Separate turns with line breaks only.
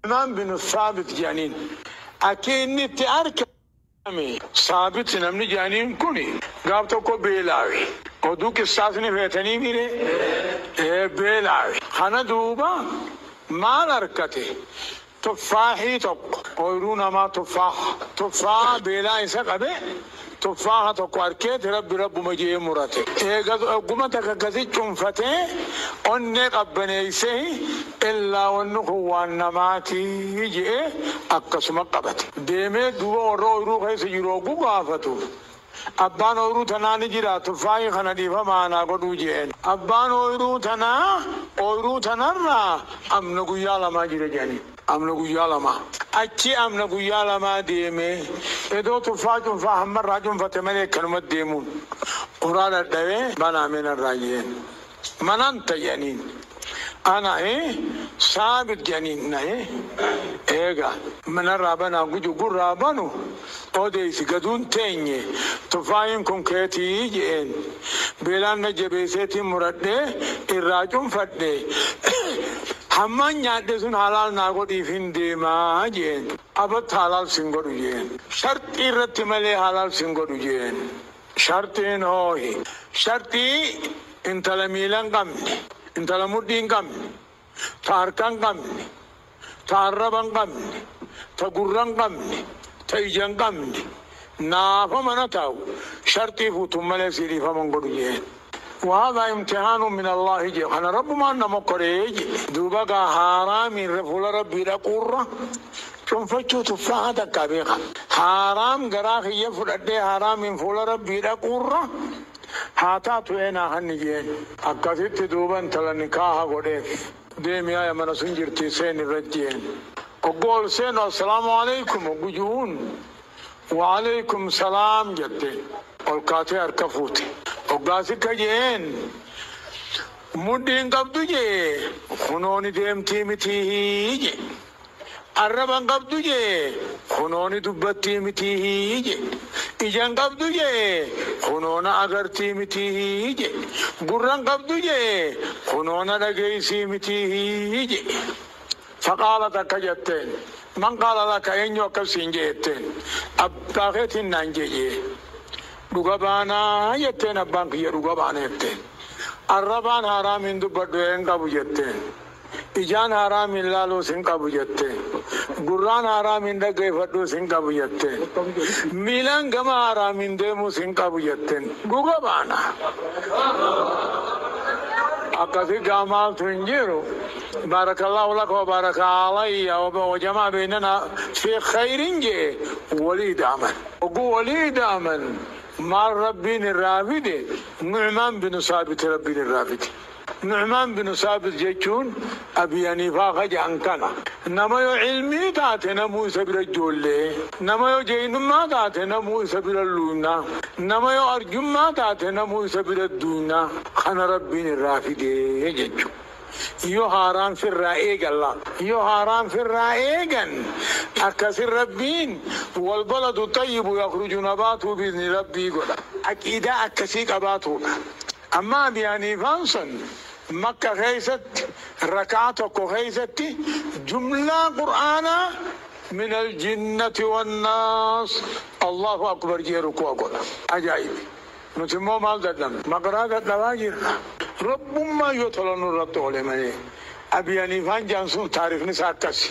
Sulaymaan binu Saabit jedhaniin. Akki inni itti argame. Saabit namni jedhaniin kun gaaf tokko beelaawe. Oduu qissaas ni feetanii mire? Ee beelaawe. Kana duuba maal arkate? Tuffaahii tokko. Ooyruu namaa tuffaaha. Tuffaaha beelaa isa qabe. Tuffaaha tokko arkeeti rabbi rabbuma je'ee murate. Eega ogguma takka gadi cunfatee onnee qabbaneeysehi illaa wanni kun waan namaati je'ee akkasuma qabate. Deemee duuba warra ooyruu keessa jiru hogguu gaafatu, abbaan ooyruu tanaa ni jiraa tuffaahi kana dhiifama anaa godhuu je'een. Abbaan ooyruu tanaa ooyruu tanarraa amna guyyaa lamaa jira je'aniin. Amna guyyaa lamaa. Achii amna guyyaa lamaa deemee edoo tuffaa cunfaa hamma irraa cunfate malee akkanumatti deemuun uraa dhadhawee banaa mee narraa je'een. Manan ta je'aniin. Ana hi saabit je'aniin. Na hi eegaa. Narraa banaa guju gurraa banu odeessi gaduun teenye tufaayiin kun keetii je'een beelaan na jabeeseetiin muradhee irraa cunfadhe hammaan nyaadhe sun halaal naa godhiifiin deema je'een abott halaal sin godhu je'een sharxii irratti malee halaal sin godhu je'een sharxiin hoohi sharxii intala miila hin qabne intala mudhii hin qabne ta harka hin qabne, ta arraba hin qabne, ta gurra hin qabne, ta ija hin qabne, naafa mana taa'u, sharxii fuutuun malee sii dhiifama hin godhu je'een. Wahaadaa imtihaanun min Allaahi je'e, kana Rabbumaan na mokkore je'e. Duuba egaa haaraamiin irra fuula Rabbii dhaquu irra cunfachuu tuffaaha takkaa beekha. Haaraam garaa kiyya fudhadhee haaraamiin fuula Rabbii dhaquu irra Haa taatu eenaa hanniyyeen. Akkasitti duuba intala nikaaha godheef. Deemi aya mana sun jirtii seeni irra jeen. Hogguu ol seenu assalaamu aleykum hoggu ju'uun wa'aleykum salaam jatte ol kaatee harka fuute. Hoggaa sikka je'een mudhii hin qabdu je'ee kunoo ni deemtii mitiihii je'e. Arraba hin qabdu jee kunoo ni dubbattii mitii hii je Ija hin qabdu jee kunoo na agartii mitii hii je Gurra hin qabdu jee kunoo na dhageeysii mitii hii je Faqaalat akka jatteen Man qaala laka eenyu akkas siin je jetteen Abbaa keetiin naan je jee Dhuga baanaa jetteen abbaan kiyya dhuga baana jetteen Arrabaan haaraamii hin dubbadhu ee hin qabu jetteen Ijaan haaraam hin laaluus hin qabu jette. Gurraan haaraam hin dhaggeeffadhuus hin qabu jette. Miilaan gama haaraam hin deemuus hin qabu jetten. Dhuga baana. Akkasi gaa maaltu hin jiru. Baarakallaahu laka wa baaraka alayya wa jamaa beynana fi khayrin je'e woli ida'aman. Hogguu woli ida'aman maal Rabbiin irraa fide? Nu'umaan binu saabiti Rabbiin irraa fide. Nu'maan binu Saabit jechuun Abii Haniifaa ka ja'an kana. Nama yo ilmii taate namuu isa bira joollee, nama yo jeynummaa taate namuu isa bira luuyna, nama yo arjummaa taate namuu isa bira duuyna, kana Rabbiin irraa fidee jechu. Yo haaraan firraa eegalla. Yo haaraan firraa eegan, akkasin Rabbiin, Walbaladu xayyibu yakhruju nabaatuhu bi'izni Rabbii godha. Aqiidaa akkasii qabaatuudha. Amma Abi Haniifaan san Makka keessatti raka'aa tokko keessatti jumlaa Qur'aanaa Min Al-Jinnati Wan-Naas Allaahu Akbar je'ee rukuu'a godha. Ajaa'ibi! Nuti immoo maal dadhabne? Maqraa dadhabaa jirra. Rabbummaan yoo tola nurratti oole malee. Abi Haniifaan je'an sun taarikhni isaa akkasi.